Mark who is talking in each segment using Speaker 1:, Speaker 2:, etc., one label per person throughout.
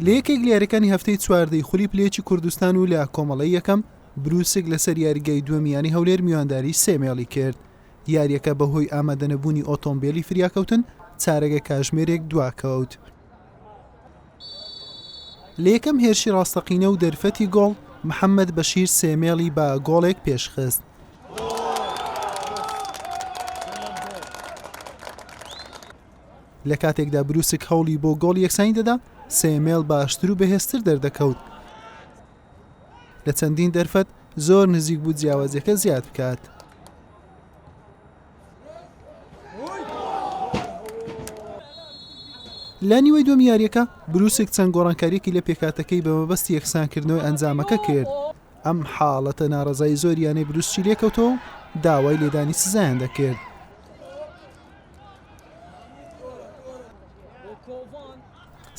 Speaker 1: لە یەکێک لیارەکانی هەفتەی چواردەی خولی پلێچی کوردستان و لە کۆمەڵی یەکەم بروسک لەسەر یاریگای دووەمیانی هەولێر میوانداری سێمێڵی کرد یاریەکە بەهۆی ئامادەنەبوونی ئۆتۆمبیلی فریاکەوتن چارەگە کاژمێرێک دواکەوت لە یەکەم هێرشی ڕاستەقینە و دەرفەتی گۆڵ محەممەد بەشیر سێمێڵی بە گۆڵێک پێشخست لە کاتێکدا بروسک هەوڵی بۆ گۆڵ یەکسانی دەدا سێمێڵ باشتر و بەهێزتر دەردەکەوت لە چەندین دەرفەت زۆر نزیک بوو جیاوازەکە زیاد بکات. لە نیوەی دوم یاریەکە بروسک چەند گۆڕانکاریەکی لە پێکاتەکەی بە مەبەستی یەکسانکردنەوەی ئەنجامەکە کرد ئەم حاڵەتە ناڕزای زۆریانەی بروسچی لێکەوتەوە داوای لێدانی سزایان دەکرد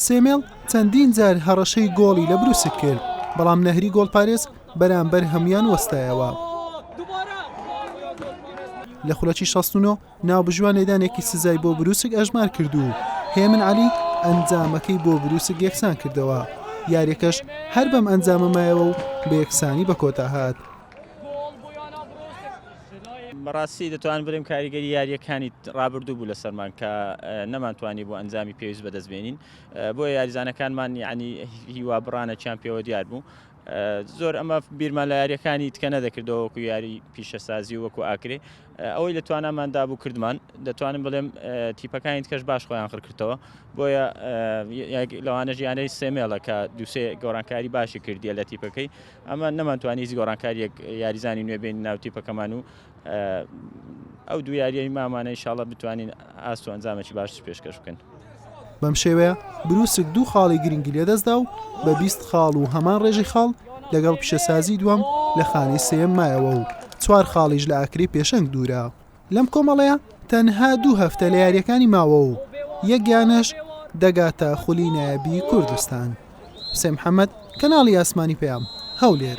Speaker 1: سێمێڵ چەندین جار هەڕەشەی گۆڵی لە بروسک کرد بەڵام نەهری گۆڵپارێز بەرامبەر هەموان وەستایەوە لە خولەکی 16 ناوبژوان لێدانێکی سزای بۆ بروسک ئەژمار کردو هێمن علی ئەنجامەکەی بۆ بروسک یەکسان کردەوە یاریەکەش هەر بەم ئەنجامەمایەوە و بە یەکسانی بە کۆتا هاات
Speaker 2: بەڕاستی دەتوان برم کاریگەری یاریەکانی ڕابردوو بوو لەسەرمان کە نەمانتوانی بۆ ئەنجامی پێویست بەدەست بێنین بۆ یاریزانەکانمان یعنی هیوا بڕانەکیان پێوە دیار بوو زۆر ئەمە بیرمان لە یاریەکانی تکە نەدەکردەوە وەکو یاری پیشەسازی و وەکو ئاکرێ ئەوەی لە توانامان دابوو کردمان دەتوانم بڵێم تیپەکانی کەش باش خۆیان خڕکردەوە بۆیە لەوانە ژیانەی سێمێڵە کە دووسێ گۆڕانکاری باشی کردیە لە تیپەکەی ئەمە نەمانتوانی هیچ گۆڕانکاریەک یاریزانی نوێ بین ناو تیپەکەمان و ئەو دو یاریی مامانە ئیشاڵە بتوانین ئاست و ئەنجامەی باشش پێشکەش بکەن. بەم شێوەیە
Speaker 1: بروسک دوو خاڵی گرنگی لەدەستدا و بە بیست خاڵ و هەمان ڕێژەی خاڵ لەگەڵ پیشەسازی دووەم لە خانەی سێیەم مایەوە و چوار خاڵیش لە ئاکرەی پێشەنگ دوورە. لەم کۆمەڵەیە تەنها دوو هەفتە لە یارییەکانی ماوە و یەک یانەش دەگاتە خولی نایابی کوردستان. حوسێن محەمەد، کەناڵی ئاسمانی پەیام، هەولێر.